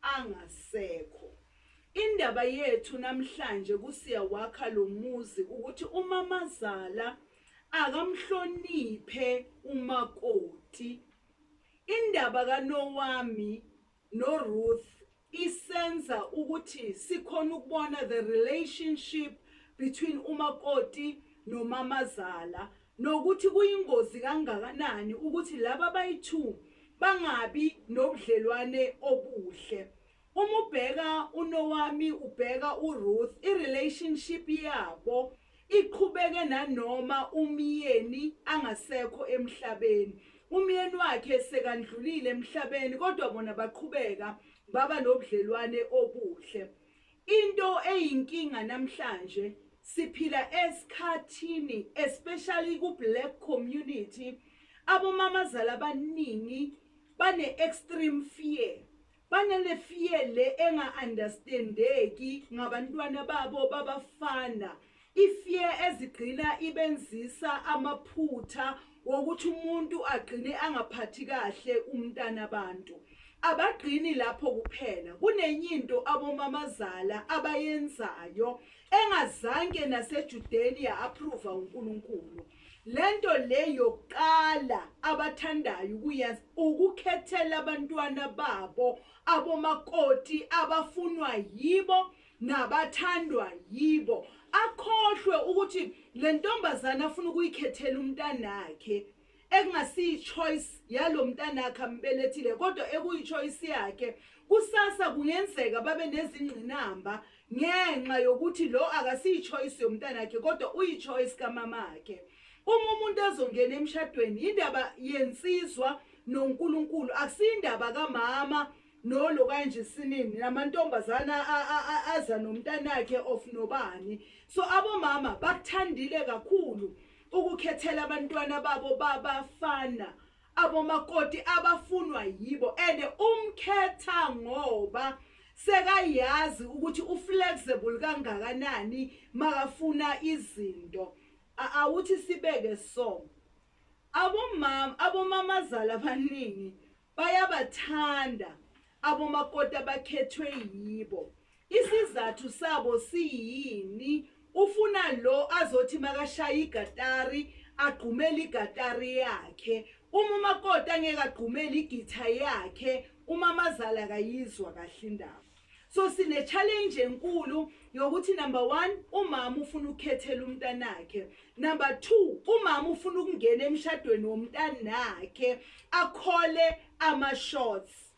angasekho indaba yethu namhlanje kusiyawakha lo muzi ukuthi umamazala akamhloniphe umakoti indaba kanowami noRuth isenza ukuthi sikhona ukubona the relationship between umakoti nomamazala nokuthi kuyingozi kangakanani ukuthi laba bayi-two bangabi nobudlelwane obuhle. Uma ubheka uNowami ubheka uRuth, i-relationship yabo iqhubeke nanoma umyeni angasekho emhlabeni umyeni wakhe sekandlulile emhlabeni kodwa bona baqhubeka baba nobudlelwane obuhle Into eyinkinga namhlanje siphila esikhathini especially ku black community abomamazala abaningi bane extreme fear banele fear le enga understandeki ngabantwana babo babafana Ifear ezigcina ibenzisa amaphutha wokuthi umuntu agcine angaphathi kahle umntana abantu. Abagcini lapho kuphela, kunenye into abomamazala abayenzayo engazange naseJudeni ya-approva uNkulunkulu. Le nto le yokuqala abathandayo ukuyenza ukukhethela abantwana babo abomakoti abafunwa yibo nabathandwa yibo akhohlwe ukuthi le ntombazane afuna ukuyikhethela umntanakhe ekungasiyi-choice yalo mntanakhe ambelethile kodwa ekuyi-choice yakhe kusasa kungenzeka babe nezingqinamba ngenxa yokuthi lo akasiyi-choice yomntanakhe kodwa uyi-choice kamamakhe uma umuntu ezongena emshadweni yindaba yensizwa nonkulunkulu akusiyindaba kamama No lo kanje sinini namantombazana aza nomntanakhe of nobani so abomama bakuthandile kakhulu ukukhethela abantwana babo babafana abomakoti abafunwa yibo and umkhetha ngoba sekayazi ukuthi uflexible kangakanani makafuna izinto awuthi sibeke so abomama abomamazala abaningi Bayabathanda abomakoti abakhethwe yibo. Isizathu sabo siyini? Ufuna lo azothi makashaya igatari agqumele igatari yakhe. Uma umakoti angeke agqumele igitha yakhe, umamazala akayizwa kahle indaba. So sine challenge enkulu yokuthi number 1 umama ufuna ukukhethela umntanakhe. Number 2 umama ufuna ukungena emshadweni womntanakhe akhole ama shots.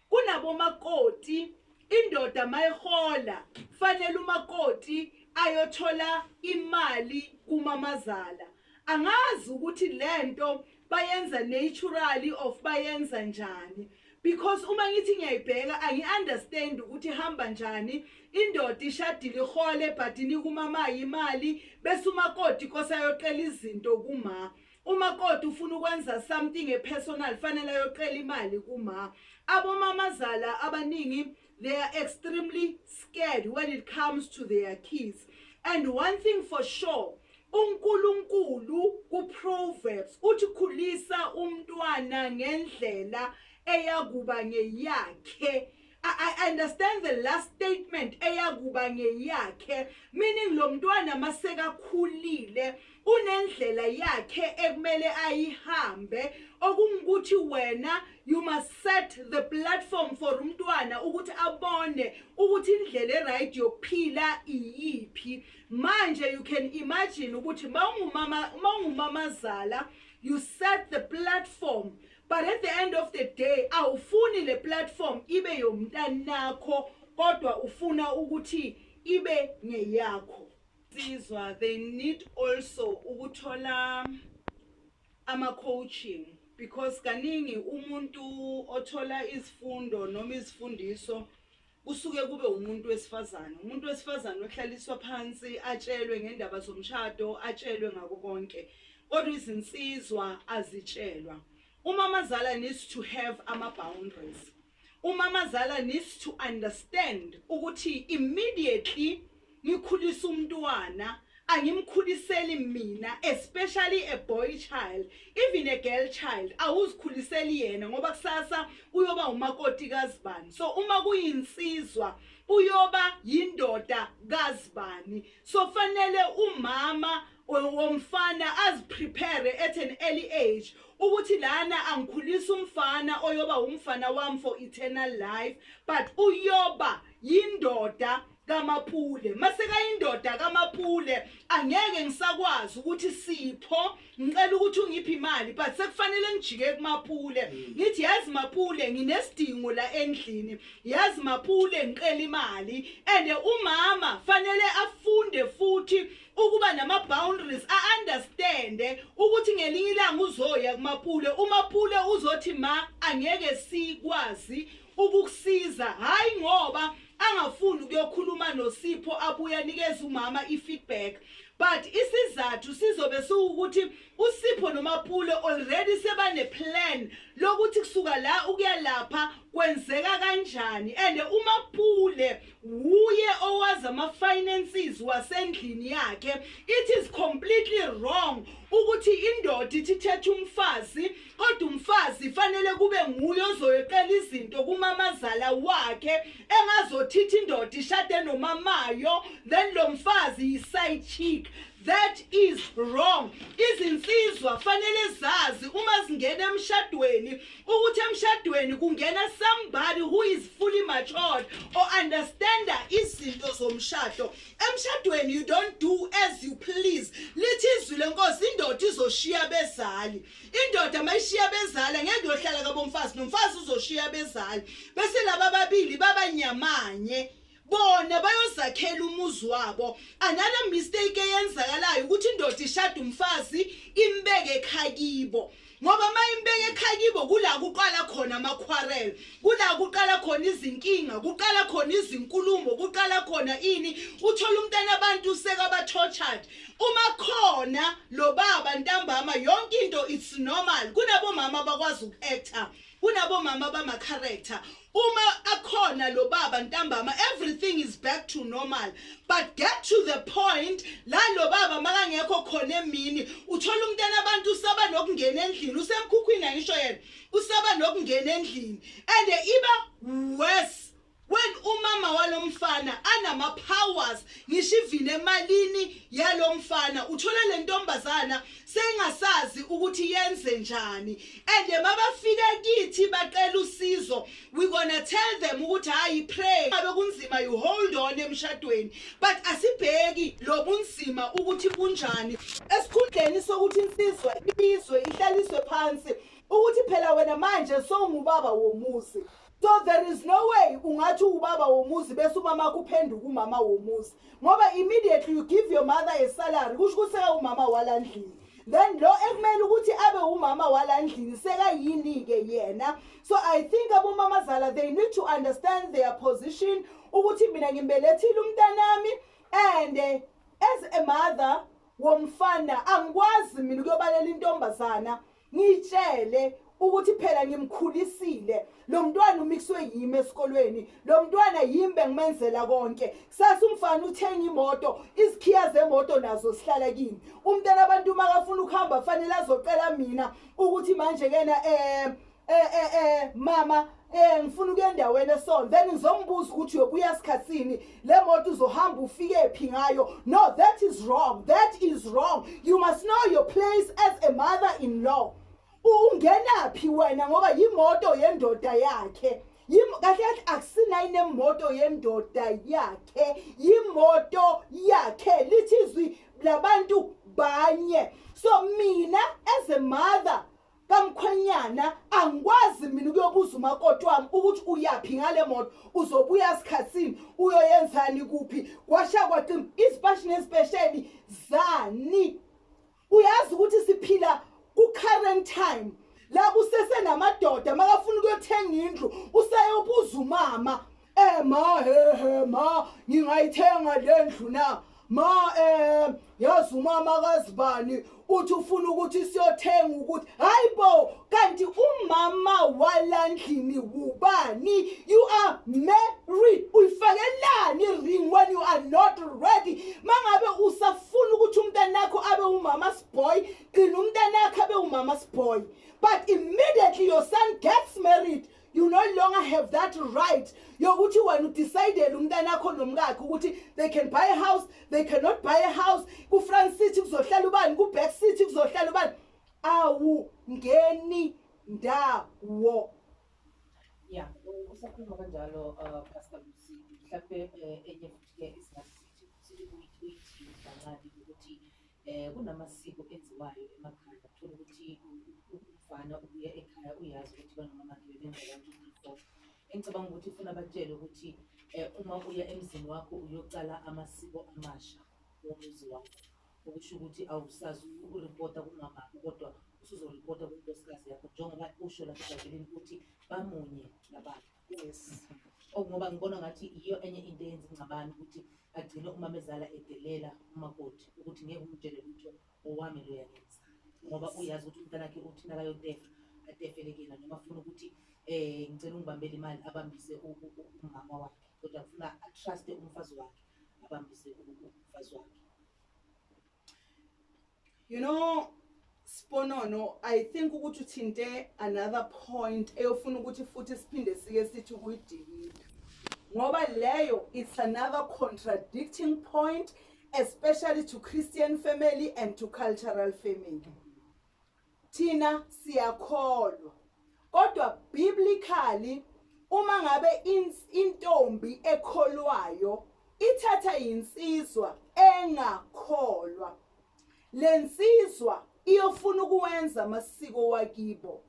Kunabo makoti indoda mayihola fanele umakoti ayothola imali kumamazala. Angazi ukuthi lento bayenza naturally of bayenza njani because uma ngithi ngiyayibheka angi-understand ukuthi hamba njani indoda ishadile ihole but nikumamayo imali bese umakoti kose ayoqela izinto kuma umakoti ufuna ukwenza something epersonal fanele ayoqela imali kuma abomamazala abaningi They are extremely scared when it comes to their kids. And one thing for sure, uNkulunkulu kuProverbs uthi khulisa umntwana ngendlela eyakuba ngeyakhe I understand the last statement eyakuba ngeyakhe meaning lo mntwana masekakhulile unendlela yakhe ekumele ayihambe okungukuthi wena you must set the platform for umntwana ukuthi abone ukuthi indlela eright yokuphila iyiphi manje you can imagine ukuthi mawungumama mawungumamazala you set the platform but at the end of the day awufuni le platform ibe yomntanakho kodwa ufuna ukuthi ibe ngeyakho Insizwa they need also ukuthola ama coaching because kaningi umuntu othola izifundo noma izifundiso kusuke kube umuntu wesifazane umuntu wesifazane ohlaliswa phansi atshelwe ngendaba zomshado atshelwe ngako konke kodwa izinsizwa azitshelwa uma amazala needs to have ama boundaries Umamazala needs to understand ukuthi immediately ngikhulisa umntwana angimkhuliseli mina especially a boy child even a girl child awuzikhuliseli yena ngoba kusasa uyoba umakoti kazibani so uma kuyinsizwa uyoba yindoda kazibani so fanele umama womfana aziprepare at an early age ukuthi lana angikhulisa umfana oyoba umfana wami for eternal life but uyoba yindoda kamapule masekayindoda kamapule angeke ngisakwazi ukuthi sipho ngicela ukuthi ungiphi imali but sekufanele ngijike kumapule mm. ngithi yazi mapule nginesidingo la endlini yazi mapule ngicela imali and umama fanele afunde futhi ukuba nama boundaries a understand ukuthi ngelinye ilanga uzoya kumapule umapule uzothi ma angeke sikwazi ukukusiza hayi ngoba angafuni ukuyokhuluma nosipho abuye anikeze umama i-feedback but isizathu sizobe siwukuthi USipho noMapule already sebane plan lokuthi kusuka la ukuya lapha kwenzeka kanjani and uMapule wuye owaza ama finances wasendlini yakhe it is completely wrong ukuthi indoda ithi thetha umfazi kodwa umfazi fanele kube nguye ozoyeqela izinto kumamazala wakhe engazothithi indoda ishade nomamayo then lo mfazi yi side chick That is wrong. Izinsizwa fanele zazi uma zingena emshadweni ukuthi emshadweni kungena somebody who is fully matured or understand izinto zomshado. Emshadweni you don't do as you please. Lithi izwi lenkosi indoda izoshiya bezali. Indoda mayishiya bezali ngeke yohlala kabomfazi nomfazi uzoshiya bezali. Bese laba babili babanyamanye. bona bayozakhela umuzi wabo another mistake eyenzakalayo ukuthi indoda ishada umfazi imbeke ekhakibo ngoba uma imbeke ekhakibo kula kuqala khona amakhwarel kula kuqala khona izinkinga kuqala khona izinkulumo kuqala khona ini uthola umntana abantu sekabatortured uma khona lo baba ntambama yonke into it's normal kunabomama abakwazi uku-actor Kunabomama abama character uma akhona lo baba ntambama everything is back to normal but get to the point la lo baba makangekho khona emini uthola umntana abantu usaba nokungena endlini usemkhukhwini ayisho yena usaba nokungena endlini and iba worse When umama walomfana anama powers ngisho ivine emalini yalomfana uthola lentombazana sengasazi ukuthi yenze njani and mabafika kithi bacela usizo we gonna tell them ukuthi hayi pray abe kunzima you hold on emshadweni but asibheki lobunzima ukuthi kunjani esikhundleni sokuthi insizwa ibizwe ihlaliswe phansi ukuthi phela wena manje sowungubaba womuzi so there is no way ungathi ubaba womuzi bese umama wakho uphenduka umama womuzi ngoba immediately you give your mother a salary kusho ukuthi umama wala ndlini then lo ekumele ukuthi abe umama wala ndlini sekayini-ke yena so i think abomamazala they need to understand their position ukuthi mina ngimbelethile umntanami and eh, as a mother womfana angikwazi mina ukuyobalela intombazana ngitshele ukuthi phela ngimkhulisile lo mntwana umixwe yimi esikolweni lo mntwana yimi bengimenzela konke kusasa umfana uthenga imoto izikhiya zemoto nazo sihlala kimi umntana abantu uma kafuna ukuhamba fanele azocela mina ukuthi manje kena eh eh eh, eh mama Eh ngifuna ukuya endaweni esona then ngizombuza ukuthi uyobuya sikhatsini le moto uzohamba ufike phi ngayo no that is wrong that is wrong you must know your place as a mother in law ungena phi wena ngoba yimoto yendoda yakhe yimo kahle kahle akusinayi nemoto yendoda yakhe yimoto yakhe lithi izwi labantu banye so mina as a mother kamkhwenyana angikwazi mina ukuyobuza umakoti wami ukuthi uyaphi ngale moto uzobuya sikhathini uyoyenzani kuphi kwasha kwaqima izipashi nezipesheni zani uyazi ukuthi siphila ku-current time la kusesenamadoda makafuna ukuyothenga indlu useyobuza umama Eh ma he he ma ngingayithenga lendlu na ma eh yazi umama kazibani uthi ufuna ukuthi siyothenga ukuthi hayi bo kanti umama walandlini wubani you are married uyifakelani ring when you are not ready mangabe usafuna ukuthi umntanakho abe umama sboy gcina umntanakho abe umama sboy but immediately your son gets married you no longer have that right yokuthi wena udecidele umntana akho nomkakhe ukuthi they can buy a house they cannot buy a house ku-front city kuzohlala ubani ku-back city kuzohlala ubani awu ngeni ndawo ya usakhuluma kanjalo uh, pastor lusi mhlawumbe eh, enye futhi-ke isingasithi sithi kuyithithi kancane ukuthi Eh kunamasiko enziwayo emakhaya uthola ukuthi umfana ubuya ekhaya uyazi ukuthi banomamakhe bebenza kanti before. Engicabanga ukuthi ufuna batshele ukuthi eh uma uya emzini wakho uyocala amasiko amasha womuzi wakho. Okusho ukuthi awusazi ukuripota kumama kodwa usuzoripota kunkosikazi yakho njengoba usho lapha eBhayibhelini ukuthi bamunye nabakhe. yes okungoba oh, ngibona ngathi yiyo enye into eyenza ingxabano ukuthi agcine umamezala edelela umakoti ukuthi ngeke umtshele lutho owami loya ngenza ngoba uyazi ukuthi umntanakhe uthi nakayotefa atefelekela noma funa ukuthi eh ngicela ungibambele imali abambise umama wakhe kodwa kufuna atruste umfazi wakhe abambise umfazi wakhe You know Sponono I think ukuthi uthinte another point eyofuna ukuthi futhi siphinde sike sithi kuyidikile. Ngoba leyo it's another contradicting point especially to Christian family and to cultural family. Thina siyakholwa. Kodwa biblically uma ngabe intombi ekholwayo ithatha yinsizwa engakholwa lensizwa iyofuna ukuwenza amasiko wakibo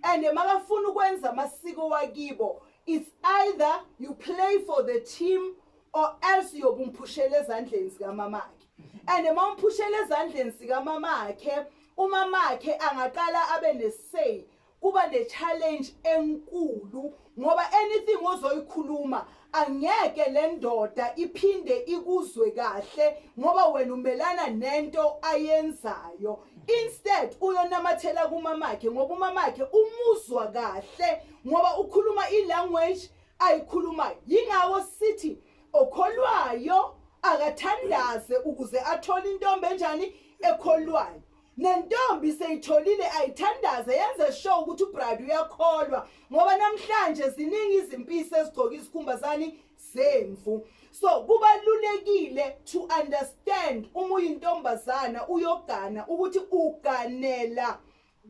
and makafuna ukwenza amasiko wakibo it's either you play for the team or else yobumphushela ezandleni zikamamakhe and uma umphushela ezandleni zikamamakhe Umamakhe angaqala abe ne-say kuba ne-challenge enkulu ngoba anything ozoyikhuluma angeke le ndoda iphinde ikuzwe kahle ngoba wena umelana nento ayenzayo instead uyonamathela kumamakhe ngoba umamakhe umuzwa kahle ngoba ukhuluma i-language ayikhulumayo yingako sithi okholwayo akathandaze ukuze athole intombi enjani ekholwayo nentombi seyitholile ayithandaze yenze show ukuthi ubride uyakholwa ngoba namhlanje ziningi izimpisi ezigcoka izikhumba zani zemvu so kubalulekile to understand uma uyintombazana uyogana ukuthi uganela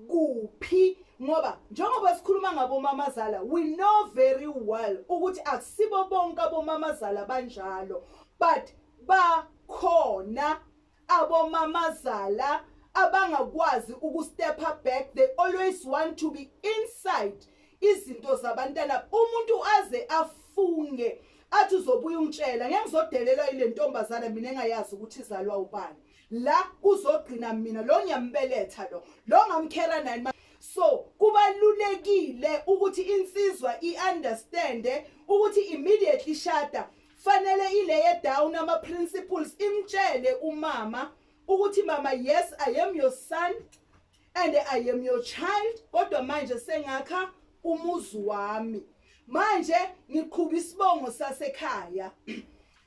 kuphi ngoba njengoba sikhuluma ngabomamazala we know very well ukuthi akusibo bonke abomamazala banjalo but bakhona abomamazala abangakwazi ukustep up back they always want to be inside izinto zabantana umuntu aze afunge athi uzobuya ungitshela ngeke ngizodelelwa ile ntombazana mina engayazi ukuthi izalwa ubani la kuzogcina mina lo ngiyambeletha lo lo ngamkhera nani so kubalulekile ukuthi insizwa i-understande ukuthi immediately shada fanele ileye down ama-principles imtshele umama ukuthi mama yes i am your son and i am your child kodwa manje sengakha umuzi wami manje ngiqhuba isibongo sasekhaya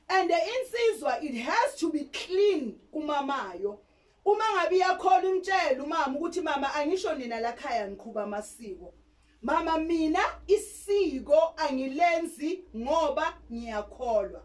and insizwa it has to be clean kumamayo uma ngabe iyakhola imtshela umama ukuthi mama angisho nina lakhaya ngiqhuba amasiko Mama mina isiko angilenzi ngoba ngiyakholwa.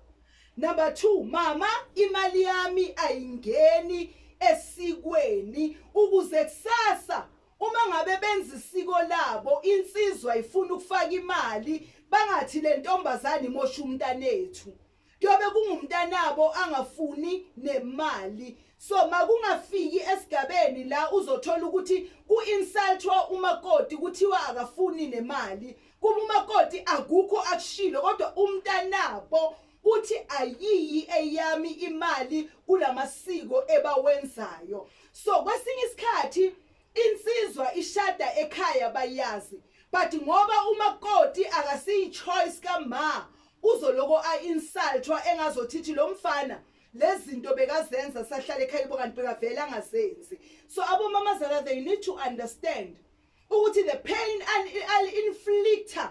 Number 2 mama imali yami ayingeni esikweni ukuze kusasa uma ngabe benza isiko labo insizwa ifuna ukufaka imali bangathi lentombazane imosha umntanethu kuyobe kungumntanabo angafuni nemali so makungafiki esigabeni la uzothola ukuthi ku-insultwa umakoti kuthiwa akafuni nemali kuba umakoti akukho akushilo kodwa umntanabo uthi ayiyi eyami imali kulamasiko ebawenzayo so kwesinye isikhathi insizwa ishada ekhaya bayazi but ngoba umakoti akasiyi choice kama Uzoloko a insultwa engazothithi lo mfana lezinto bekazenza sahlala ekhaya kubo kanti bekavele angazenzi. So abomama zala they need to understand ukuthi the pain and al inflictor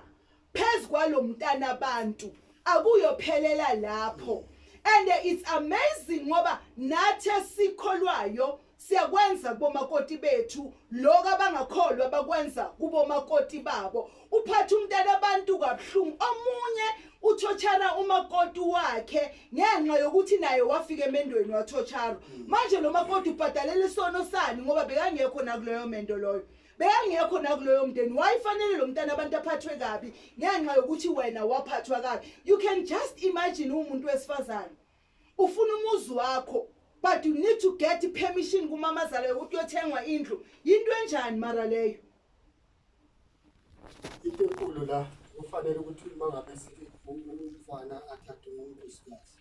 phezu kwalomntana abantu akuyophelela lapho. And it's amazing ngoba nathi esikholwayo Siyakwenza kubomakoti bethu lokho abangakholwa bakwenza kubomakoti babo. Uphatha umntana abantu kabuhlungu. Omunye uthochara umakoti wakhe ngenxa yokuthi naye wafika emendweni wathochara. Hmm. Manje lo makoti ubhadalela isono sani ngoba bekangekho nakuleyo mendo loyo. Bekangekho nakuleyo mndeni. Wayifanele lo mntana abantu aphathwe kabi ngenxa yokuthi wena waphathwa kabi. You can just imagine umuntu wesifazane. Ufuna umuzi wakho but you need to get permission kumamazala yokuthi uyothengwa indlu. Yinto enjani mara leyo? Into enkulu la kufanele ukuthi uma ngabe sithi umfana athathe umuntu sikazi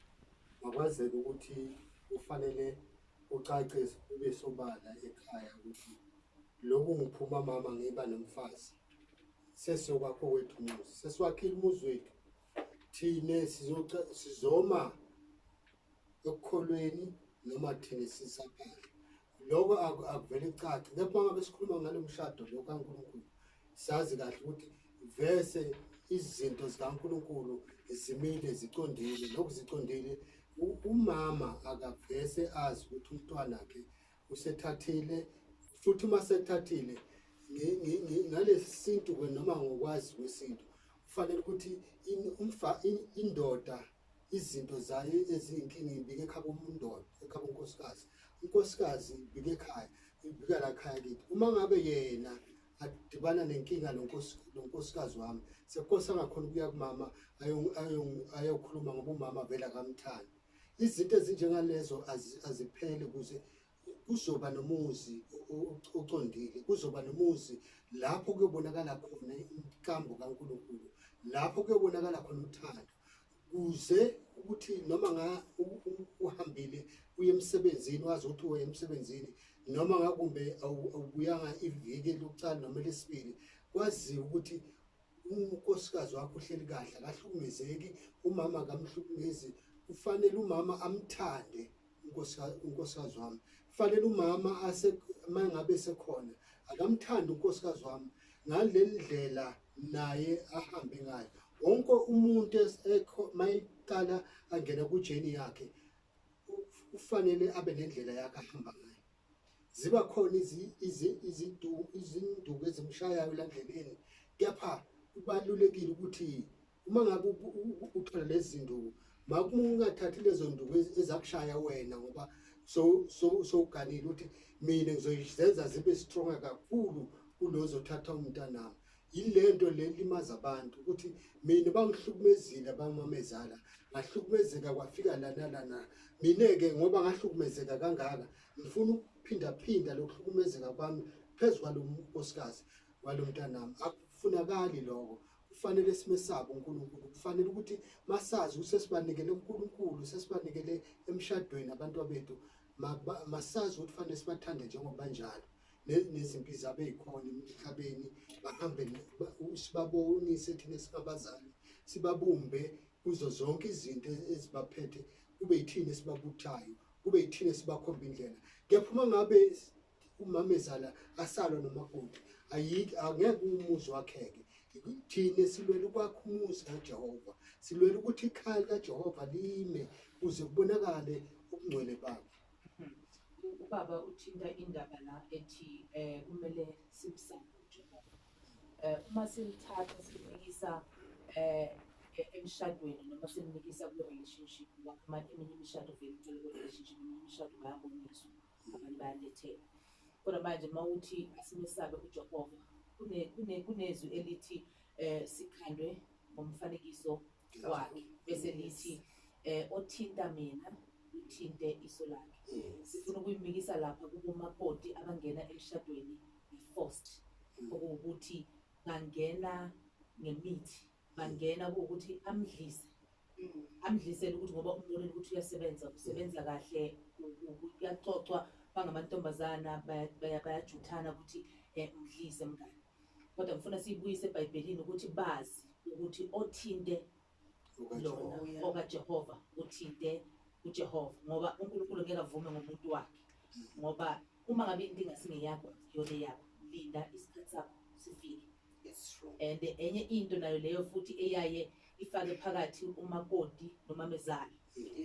makwazeke ukuthi kufanele ucace ube sobala ekhaya ukuthi lokhu ngiphuma mama ngiba nomfazi sesiyokwakho wethu umuzi sesiwakhile umuzi wethu thina sizoca sizoma ekukholweni noma thina sisaphana lokho aku- akuvele cace kepha ngabe sikhuluma ngalo mshado lo kaNkulunkulu sazi kahle ukuthi vese izinto zikaNkulunkulu zimile ziqondile lokhu ziqondile u- umama akavese azi ukuthi umntwana wakhe usethathile futhi uma sethathile ngalesi sintu ke noma ngokwazi kwesintu kufanele ukuthi indoda izinto zayo eziyinkinga ibike ekhaba umundoda ekhaba unkosikazi unkosikazi ibike ekhaya ibika la khaya kithi uma ngabe yena adibana nenkinga lo nkosikazi wami sekukose angakhona ukuya kumama ayokhuluma ngoba umama vele akamthandi izinto ezinjengalezo azipheli ukuze kuzoba nomuzi ocondile kuzoba nomuzi lapho kuyobonakala khona inkambo kaNkulunkulu lapho kuyobonakala khona uthando kuze ukuthi noma nga uhambile uye emsebenzini wazi ukuthi uye emsebenzini noma ngakumbe awubuyanga iviki lokucala noma lesibili kwaziwa ukuthi unkosikazi wakho uhleli kahle akahlukumezeki umama akamhlukumezi kufanele umama amthande unkosikazi wami kufanele umama ase mangabe sekhona akamthandi unkosikazi wami ngale ndlela naye ahambe ngayo wonke umuntu esekho mayiqala angena kujeni yakhe ufanele abe nendlela yakhe ahamba ngayo ziba khona izinduku ezimshayayo landlebeni kepha kubalulekile ukuthi uma ngabe uthola lezi zinduku makungathathi lezo nduku ezakushaya wena ngoba sowuganile ukuthi mina ngizoyizenza zibe stronger kakhulu kulozothatha umntanami yilento le limaza abantu ukuthi mina bangihlukumezile abamamezala ngahlukumezeka kwafika lana lana mina-ke ngoba ngahlukumezeka kangaka ngifuna ukuphindaphinda lokuhlukumezeka kwami phezu kwalo nkosikazi walo mntanami akufunakali loko kufanele simesaba uNkulunkulu kufanele ukuthi masazi ukuthi sesibanikele uNkulunkulu sesibanikele emshadweni abantu bethu masazi ukuthi kufanele sibathande njengoba njalo nezimpi zabe yikhona emhlabeni bahambe sibabonise thina singabazali sibabumbe kuzo zonke izinto ezibaphethe kube yithina esibabuthayo kube yithina esibakhomba indlela kepha uma ngabe umamezala asalwa nomakoti ayikho angeke umuzi wakheke thina silwela ukwakha umuzi kajehova silwela ukuthi ikhaya likajehova lime kuze kubonakale ubungcwele bakhe Ubaba uthinta indaba la ethi eh kumele simsande uJehova. Eh uma simthatha simfikisa eh e-, emshadweni noma simnikisa kule relationship ngoba amanye eminye imishado vele icela kule relationship eminye imishado bayaboniswa abantu bayalethela kodwa manje uma uthi asimesabe uJehova kunezwi elithi um sikhandwe ngomfanekiso wakhe bese nithi eh othinta mina uthinte iso lakhe sifuna ukuyimikisa lapha kubomakoti abangena emshadweni i-forced okuwukuthi bangena ngemithi bangena kuwukuthi amdlise amdlisele ukuthi ngoba umbonile ukuthi uyasebenza usebenza kahle kuyaxoxwa bangamantombazana bayajuthana ukuthi um mdlise mngane Kodwa ngifuna siyibuyise eBhayibhelini ukuthi bazi ukuthi othinte lona okaJehova uthinte uJehova ngoba uNkulunkulu ngeke avume ngomuntu wakhe ngoba uma ngabe into ingasingeyakho yona yakho linda isikhathi sakho sifike and enye into nayo leyo futhi eyaye ifake phakathi umakoti nomamezala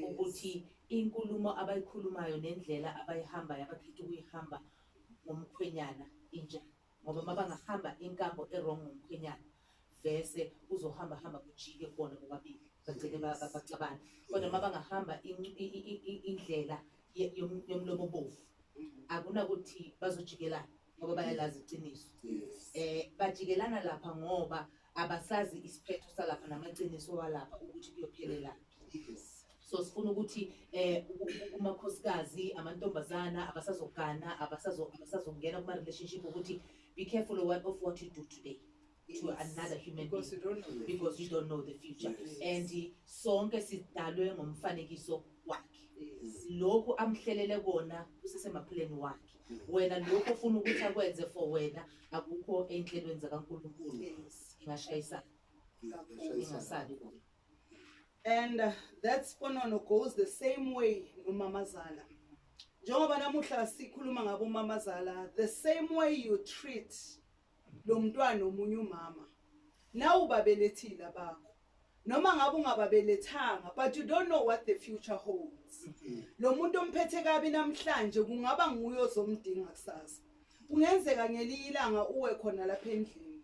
ukuthi inkulumo abayikhulumayo nendlela abayihambayo abakhetha ukuyihamba ngomkhwenyana injani ngoba mabangahamba inkambo erong ngomkhwenyana vese uzohamba hamba kujike kubona bobabili bagcine baxabana kodwa mabangahamba indlela yomlomo bovu akunakuthi bazojikelana ngoba bayalazi iqiniso eh bajikelana lapha ngoba abasazi isiphetho salapha namaqiniso walapha ukuthi kuyophelelana so sifuna ukuthi eh umakhosikazi amantombazana abasazogana abasazo abasazongena kuma relationship ukuthi be careful of what, of what you do today to yes. another human because being you don't know because you don't know the future yes. and sonke sidalwe ngomfanekiso wakhe yes. lokhu amhlelele kona kusesemaphileni wakhe mm. wena lokho ufuna ukuthi akwenze for wena akukho enhlelweni zakaNkulunkulu yes. ingashayisana ingasabi and that sponono goes the same way nomamazala njengoba namuhla sikhuluma ngabo umamazala the same way you treat lo mntwana omunye umama nawu babelethile abakho noma ngabe ungababelethanga but you don't know what the future holds mm-hmm. lo muntu omphethe kabi namhlanje kungaba nguye ozomdinga kusasa kungenzeka ngeliyilanga uwe khona lapha endlini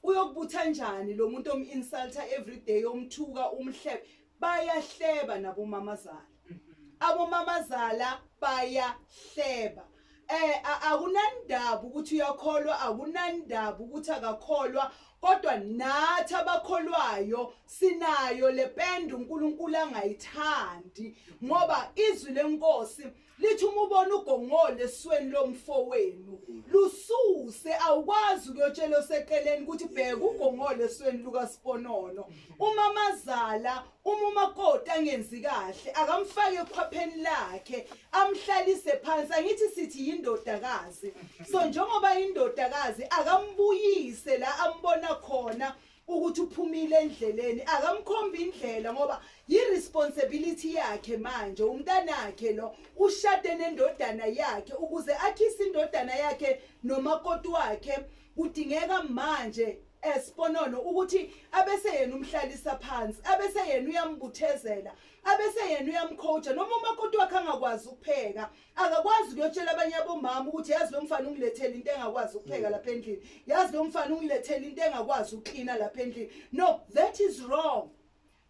Uyokubutha njani lo muntu om insulter every day omthuka umhlebe bayahleba nabo mamazala. Mhm. Abo mamazala bayahleba. Eh akunandaba ukuthi uyakholwa akunandaba ukuthi akakholwa kodwa nathi abakholwayo sinayo lependa uNkulunkulu angayithandi ngoba izwi lenkosi lithi uma ubona ugongole esweni lomfowenu lususe awukwazi ukuyotshela oseqeleni ukuthi bheka ugongole esweni lukasiponono umamazala uma umakoti angenzi kahle akamfake ekhwapheni lakhe amhlalise phansi angithi sithi yindodakazi so njengoba yindodakazi akambuyise la ambona khona ukuthi uphumile endleleni akamkhombi indlela ngoba yi-responsibility yakhe manje umntanakhe lo ushade nendodana yakhe ukuze akhise indodana yakhe nomakoti wakhe kudingeka manje esiponono ukuthi abese yena umhlalisa phansi abese yena uyambuthezela abese yena uyamcoacha noma umakoti wakhe angakwazi ukupheka akakwazi ukuyotshela abanye abomama ukuthi yazi lo mfana ungilethela into engakwazi ukupheka lapha endlini yazi lo mfana ungilethela into engakwazi ukuklina lapha endlini no that is wrong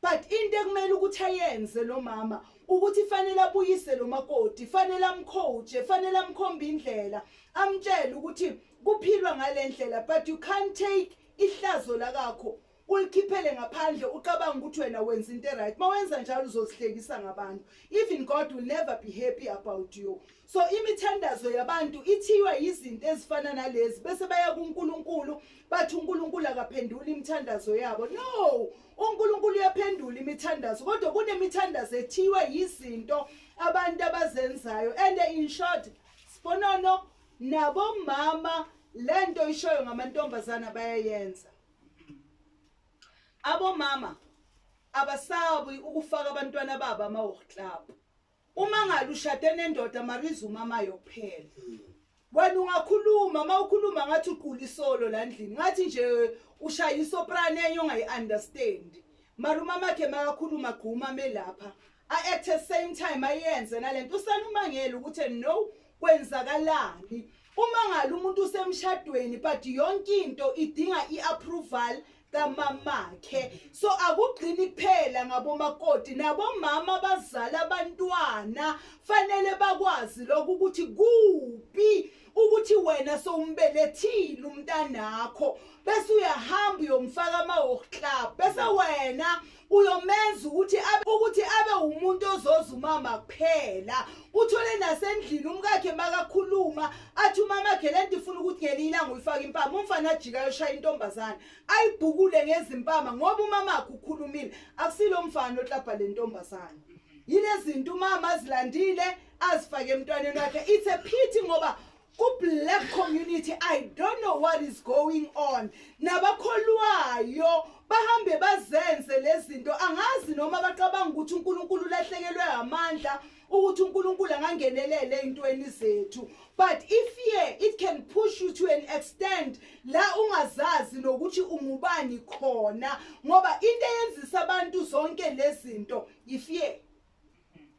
but into ekumele ukuthi ayenze lo mama ukuthi fanele abuyise lo makoti fanele amcoache fanele amkhombe indlela amtshele ukuthi kuphilwa ngalendlela but you can't take ihlazo lakakho Ulikhiphele ngaphandle ucabanga ukuthi wena wenza into right. Mawenza njalo uzozihlekisa ngabantu. Even God will never be happy about you. So imithandazo yabantu ithiywa yizinto ezifana nalezi bese baya kuNkulunkulu bathi uNkulunkulu akaphendula imithandazo yabo. No, uNkulunkulu uyaphendula imithandazo kodwa kunemithandazo ethiywa yizinto abantu abazenzayo and in short sibonono nabomama lento ishoyo ngamantombazana bayayenza. abomama abasabi ukufaka abantwana babo ama-walk club uma ngale ushade nendoda mariza umama yokuphela wena ungakhuluma uma ukhuluma ngathi uqula isolo la ndlini ngathi nje ushaya isoprane enye ongayi-understandi mara umamakhe makakhuluma gqumame lapha a at the same time ayenze nalento usanumangele ukuthi no kwenzakalani uma ngalo umuntu usemshadweni but yonke into idinga iapproval kamamakhe so akugcini kuphela ngabomakoti nabomama abazala abantwana fanele bakwazi lokho ukuthi kuphi ukuthi wena sowumbelethile umntanakho bese uyahamba uyomfaka ama-hawk club bese wena uyomenza ukuthi abe ukuthi abe umuntu ozoza umama kuphela uthole nasendlini umkakhe makakhuluma athi umamakhe le nto ifuna ukuthi ngelinye ilanga uyifake impama umfana ajika yoshaya intombazane ayibhukule ngezimpama ngoba umamakhe ukhulumile akusilo mfana oklabha le ntombazane yilezinto umama azilandile azifake emntwaneni wakhe it's a pity ngoba Ku black community I don't know what is going on. Nabakholwayo bahambe bazenze lezinto angazi noma bacabanga ukuthi uNkulunkulu ulahlekelwe amandla ukuthi uNkulunkulu angangenelele ezintweni zethu but if fear it can push you to an extent la ungazazi nokuthi ungubani khona ngoba into eyenzisa abantu zonke lezinto ifear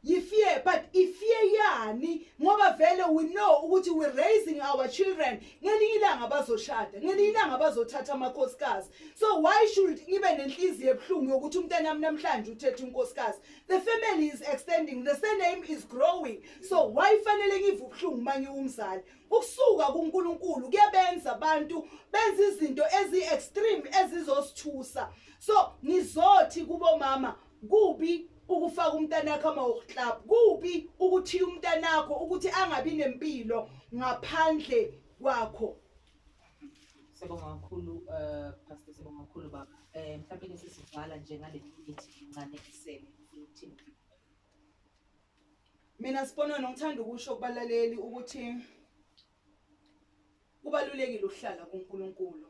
yifear but ifear yani ngoba vele we know ukuthi we raising our children ngelinye ilanga bazoshada ngelinye ilanga bazothatha amakhosikazi so why should ngibe nenhliziyo ebuhlungu yokuthi umntana wami namhlanje uthethe unkosikazi the family is extending the surname is growing so why fanele ngive ubuhlungu uma ngiwumzali ukusuka kuNkulunkulu kuyabenza abantu benza izinto ezi-extreme ezizosithusa so ngizothi kubomama Kubi ukufaka umntanakho ama-walk club kubi ukuthiya umntanakho ukuthi angabi nempilo ngaphandle kwakho sibonga kakhulu um pastor sibonga kakhulu baba um eh, mhlawumbe ke sesivala nje ngale minute incane isele ukuthini mina sibonwa nongithanda ukusho kubalaleli ukuthi Kubalulekile ukuhlala kuNkulunkulu.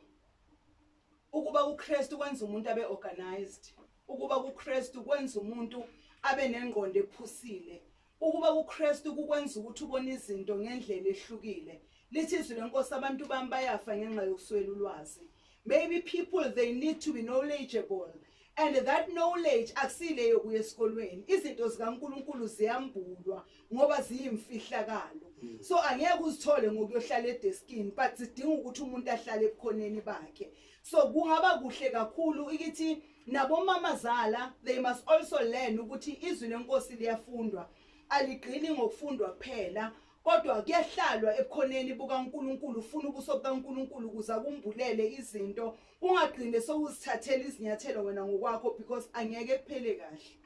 Ukuba kuKristu kwenza umuntu abe organized. Ukuba kuKristu kwenza umuntu abe nengqondo ephusile. Ukuba kuKristu kukwenza ukuthi ubone izinto ngendlela ehlukile. Lithi izwi lenkosi abantu bami bayafa ngenxa yokuswela ulwazi. Maybe people they need to be knowledgeable and that knowledge akusile yokuya esikolweni izinto zikaNkuluNkulu ziyambulwa ngoba ziyimfihlakalo hmm. so angeke uzithole ngokuyohlala edeskini but sidinga ukuthi umuntu ahlale ebukhoneni bakhe so kungaba kuhle kakhulu ukuthi nabomama zala they must also learn ukuthi izwi lenkosi liyafundwa aligcini ngokufundwa kuphela Kodwa kuyahlalwa ebukhoneni bukaNkulunkulu ufuna ubuso bukaNkulunkulu ukuze akumbulele izinto ungagcine sowuzithathela izinyathelo wena ngokwakho because angeke kuphele kahle.